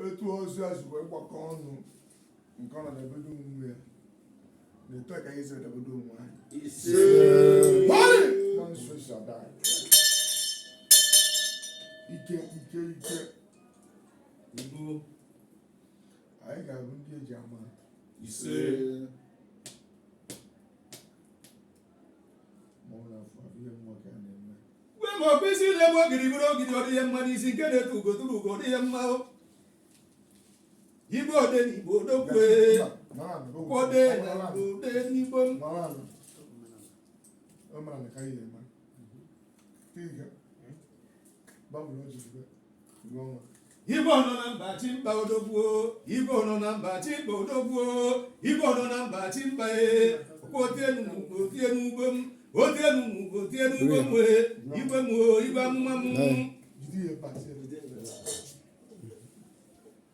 etu ọjị a si wee gbakọ ọnụ nke ọ na-ebedo onwe ya na etu a ka anyị si edebedo onwe anyị ise Hoi! na nso si ada anyị. ike ike ike udo anyị ga-abụ ndị e ji ama ise gwe ma ọkwa isi na-ebu ogidi buru ogidi ọ dị ihe mma n'isi nke na-atụ ugo tụrụ ugo ọ dị ihe mma o. Igbo ode na Igbo odogwu e ode na Igbo ode n'Igbo m. Mara na ka ihe ma. Tiga. Babu na ojiji. Igbo nọ na mba achị mba odogwu o Igbo nọ na mba achị mba odogwu o Igbo nọ na mba achị mba e otienu m otienu ugbo m otienu m otienu ugbo m e igwe m o igwe amụma m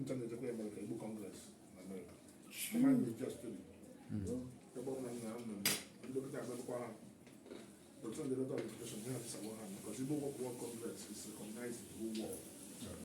ncha na-ejekwa ya mere ka Igbo Congress na Amerịka ebe ọ bụla nna nna ndị dọkịta abịakwa ha dọkịta ndị dọkịta ọdịfikeshọn ha abịsawa ha maka ozigbo ụgwọ kwụọ Congress is recognized ụgwọ